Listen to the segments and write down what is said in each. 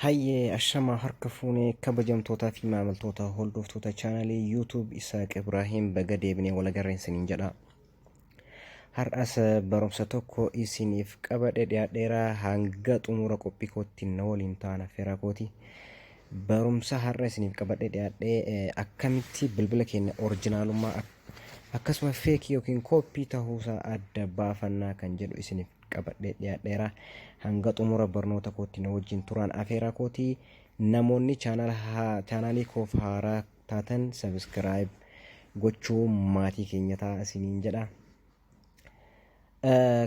Hayyee ashamaa harka fuunee kabajamtootaa fi maamiltoota hordoftoota chaanalii YouTube Isaaq Ibraahiim baga deebinee walagarreen siniin jedha. Har'as barumsa tokko isiniif qabadhe dhiyaadheeraa hanga xumura qophii kootti na waliin taana fira kooti. Barumsa har'a isiniif qabadhe dhiyaadhee eh, akkamitti bilbila keenya orijinaalummaa ak- akkasuma feekii yookiin kooppii tahuusaa adda baafannaa kan jedhu isiniif qabadhee dhiyaadheera hanga xumura barnoota kootti na wajjin turaan afeeraa kooti namoonni chaanaalii koof haaraa taatan sabiskiraayib gochuu maatii keenya ta'a isiniin jedha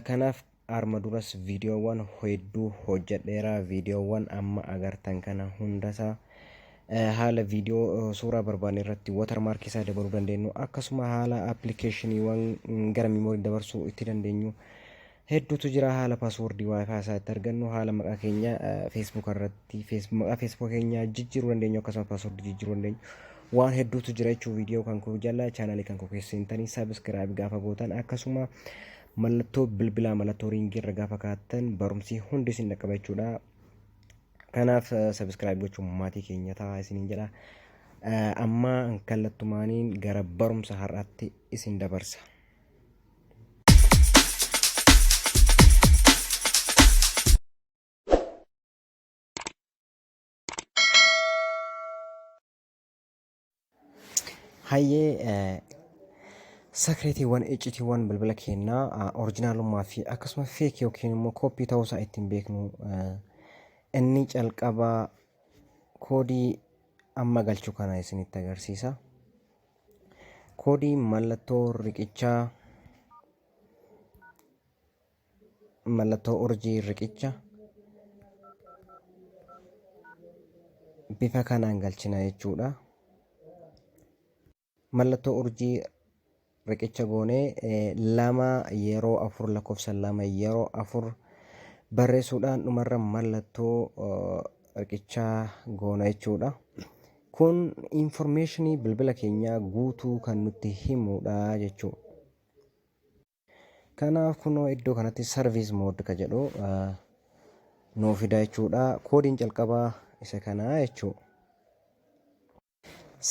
kanaaf arma duras viidiyoowwan hedduu hojjedheera viidiyoowwan amma agartan kana hundasaa haala viidiyoo suuraa barbaanne irratti watermark isaa dabaluu dandeenyu akkasuma haala appilikeeshiniiwwan gara miimoorii dabarsuu itti dandeenyu hedduutu jira haala paaswoordii waayifaa isaa itti argannu haala maqaa keenya feesbuuk irratti maqaa feesbuuk keenya jijjiiruu dandeenyu akkasuma paaswoordii jijjiiruu dandeenyu waan hedduutu jira jechuun viidiyoo kan koo jala chaanaalii kan koo keessa seentanii sabiskiraayib gaafa gootan akkasuma mallattoo bilbilaa mallattoo riingii irra gaafa kaattan barumsi hundi isin dhaqqaba jechuudha Kanaaf subscribe gochuun maatii keenya ta'a isiniin jedha. Amma kallattumaaniin gara barumsa har'aatti isin dabarsa. Hayyee eh, sakireetiiwwan iccitiiwwan bilbila keenyaa ah, orijinaalummaa fi akkasuma feek yookiin immoo kooppii ta'uu isaa ittiin beeknu eh, inni calqabaa koodii amma galchu kana isinitti agarsiisa. Koodii mallattoo riqichaa mallattoo urjii riqicha bifa kanaan galchina jechuudha. Mallattoo urjii riqicha goonee lama yeroo afur lakkoofsa lama yeroo afur barreessuudhaan dhumarra mallattoo riqichaa goona jechuudha. Kun infoormeeshinii bilbila keenyaa guutuu kan nutti himudha jechuudha. Kanaaf kunoo iddoo kanatti service mode ka jedhu nuu fida jechuudha. Koodiin calqabaa isa kana jechuu.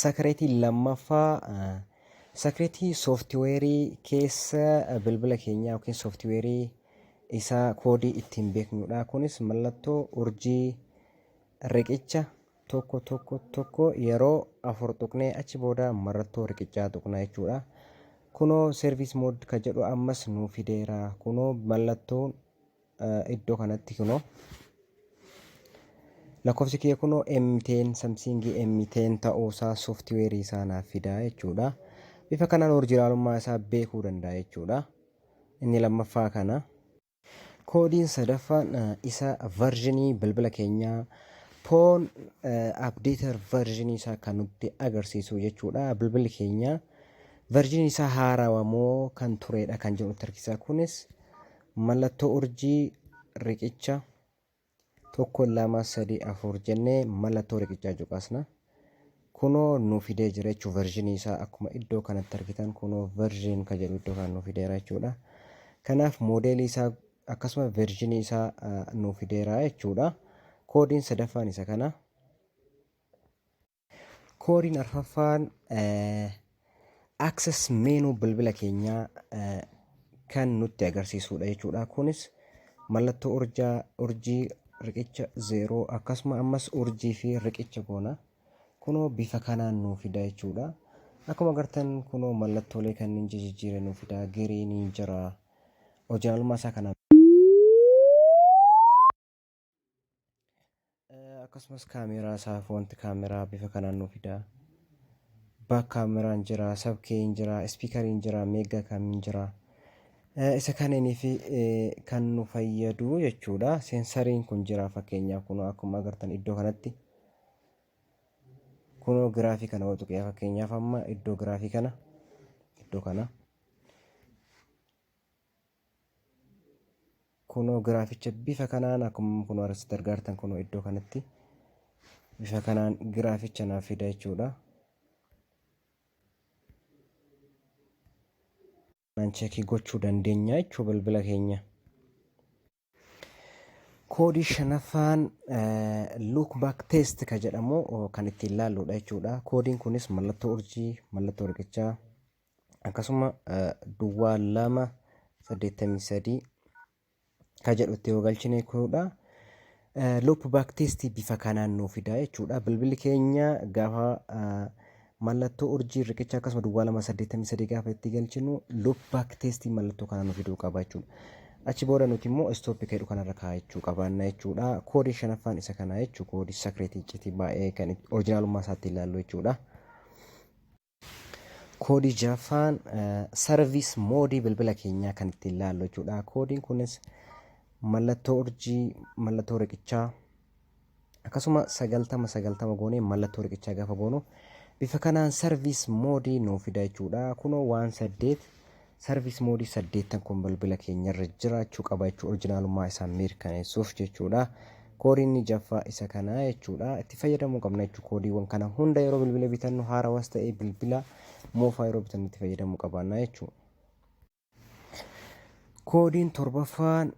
Sakireetii lammaffaa sakireetii sooftiweerii keessa bilbila keenyaa yookiin sooftiweerii isaa koodii ittiin beeknudha. Kunis mallattoo urjii riqicha tokko tokko tokko yeroo afur tuqnee achi booda marrattoo riqichaa tuqna jechuudha. Kunoo service mode ka jedhu ammas nuu fideera. Kunoo mallattoon eh, iddoo kanatti kunoo lakkoofsi kiyya kunoo M10 Samsung M10 ta'uusaa sooftiweerii isaa naaf fidaa jechuudha. Bifa kanaan orjinaalummaa isaa beekuu danda'a jechuudha. Inni lammaffaa kana. Koodiin sadaffaan isa varjinii bilbila keenyaa poon abdeetar varjinii isaa kan nutti agarsiisu jechuudha. Bilbilli keenya varjinii isaa haarawa moo kan tureedha kan jedhu nutti argisiisa. Kunis mallattoo urjii riqicha tokko lama sadii afur jennee mallattoo riqichaa cuqaasna. Kunoo nu fidee jira jechuun versionii isaa akkuma iddoo kanatti argitan kunoo version ka jedhu iddoo kana nu fideera jechuudha. Kanaaf moodeelii isaa akkasuma versionii isaa nu fideera jechuudha. Koodiin sadaffaan isa kana. Koodiin arfaffaan access menu bilbila keenyaa eh, kan nutti agarsiisudha jechuudha. Kunis mallattoo urjaa, urjii, riqicha zeeroo akkasuma ammas urjii fi riqicha goona. Kunoo bifa kanaan nuu fida jechuudha. Akkuma agartan kunoo mallattoolee kanneen jijjiiree nuu fida. Giriiniin jira. Orijinaalummaa isaa kanaan. akkasumas kaameeraa isaaf wanti kaameeraa bifa kanaan nu fida baak kaameraan jira sabkeeyin jira ispiikariin jira meeggaa kamiin jira isa kaneenii fi kan nu fayyadu jechuudha seensariin kun jira fakkeenyaaf kun akkuma agartan iddoo kanatti kunoo giraafii kana yoo tuqee fakkeenyaaf amma iddoo giraafii kana iddoo kana Kunoo giraaficha bifa kanaan akkuma kunoo asitti argaa jirtan kunoo iddoo kanatti bifa kanaan giraaficha naaf fida jechuudha. Kanaan cheekii gochuu dandeenya jechuudha bilbila keenya. Koodii shanaffaan look back test ka jedhamu kan ittiin laalluudha jechuudha. Koodiin kunis mallattoo urjii, mallattoo riqichaa akkasuma duwwaa lama saddeettamii sadii ka jedhu itti yoo galchine jechuudha. Loop back test bifa kanaan nuu fida jechuudha. Bilbilli keenya gaafa Mallattoo urjii riqicha akkasuma duwwaa lama saddeettamii sadii gaafa itti galchinu loop back testiin mallattoo kana nu fiduu qaba jechuudha. Achi booda nuti immoo istooppi keedhu kanarra kaa'achuu qabaanna jechuudha. Koodiin shanaffaan isa kanaa jechuudha. Koodii sakireetii iccitii baay'ee kan orijinaalummaa isaatti ilaallu jechuudha. Koodii jaffaan sarviis moodii bilbila keenyaa kan ittiin ilaallu jechuudha. Koodiin kunis mallattoo urjii, mallattoo riqichaa, akkasuma 90 90 goonee mallattoo riqichaa gaafa goonu bifa kanaan sarviis moodii nuu fida jechuudha kunoo waan saddeet sarviis moodii saddeettan kun bilbila keenyarra jiraachuu qaba jechuudha orijinaalummaa isaa mirkaneessuuf jechuudha koodiin ni jaffaa isa kana jechuudha itti fayyadamuu qabna jechuu koodiiwwan kana hunda yeroo bilbila bitannu haarawas ta'ee bilbila moofaa yeroo bitannu itti fayyadamuu qabaanna jechuudha. Koodiin torbaffaan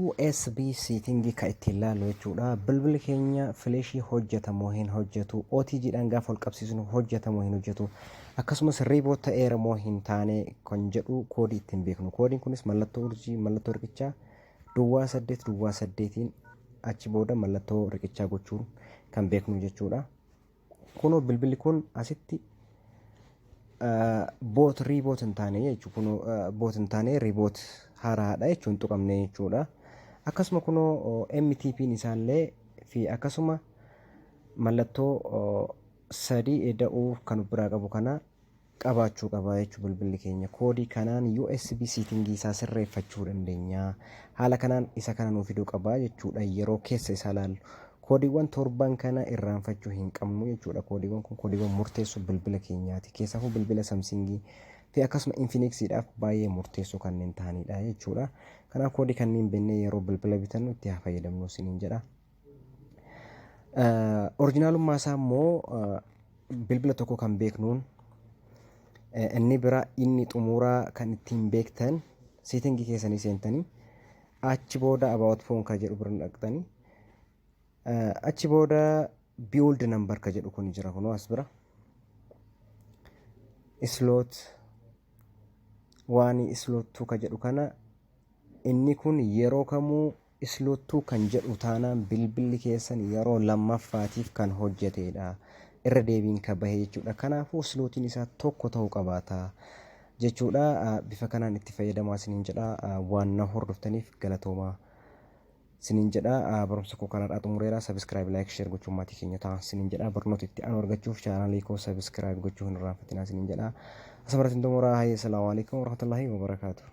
USB seetingii kan ittiin ilaallu jechuudha. Bilbilli keenya fileeshii hojjetamoo hin hojjetu, OTG dhaan gaafa ol qabsiisnu hojjetamoo hin hojjetu, akkasumas riiboot ta'eera moo hin taane kan jedhu koodii ittiin beeknu. Koodiin kunis mallattoo urjii, mallattoo riqichaa duwwaa saddeet duwwaa saddeetiin achi booda mallattoo riqichaa gochuun kan beeknu jechuudha. Kunoo bilbilli kun asitti boot riiboot hin taane jechuudha. Kunoo boot hin taane riiboot haaraadha jechuun hin tuqamne jechuudha. Akkasuma kunoo MTP'n isaallee fi akkasuma mallattoo sadii eda'uu kan of biraa qabu kana qabaachuu qaba jechuudha bilbilli keenya. Koodii kanaan USB siitingii isaa sirreeffachuu dandeenya. Haala kanaan isa kana nuu fiduu qaba jechuudha yeroo keessa isaa laallu. Koodiiwwan torban kana irraanfachuu hin qabnu jechuudha. Koodiiwwan kun koodiiwwan murteessoo bilbila keenyaati. Keessafuu bilbila Samsingii fi akkasuma Infinixiidhaaf baay'ee murteessoo kanneen ta'anidha jechuudha. Kanaaf koodii kanneen beeknee yeroo bilbila bitannu itti haa fayyadamnu isiniin jedha. Orijinaalummaa isaa immoo bilbila tokko kan beeknuun inni bira inni xumuraa kan ittiin beektan seetingii keessanii seentanii achi booda about phone kan jedhu bira dhaqxanii achi booda build number kan jedhu kun jira kunoo as bira slot waan slot 2 kan jedhu kana inni kun yeroo kamuu Isloottuu kan jedhu taanaan bilbilli keessan yeroo lammaffaatiif kan hojjeteedha. Irra deebiin kan bahe jechuudha. Kanaafuu islootiin isaa tokko ta'uu qabaata jechuudha. Bifa kanaan itti fayyadamaa isiniin jedha. Waan na hordoftaniif galatoomaa isiniin jedha. Barumsa koo kanarraa xumureera. Sabiskiraayib, laayik, sheer gochuun maatii keenya ta'a isiniin jedha. Barnoota itti aanu argachuuf chaanaalii koo sabiskiraayib gochuu hin irraanfatinaa isiniin jedha. Asumaratiin xumuraa. Hayyee salaamu alaikum warahmatullahi wabarakaatuh.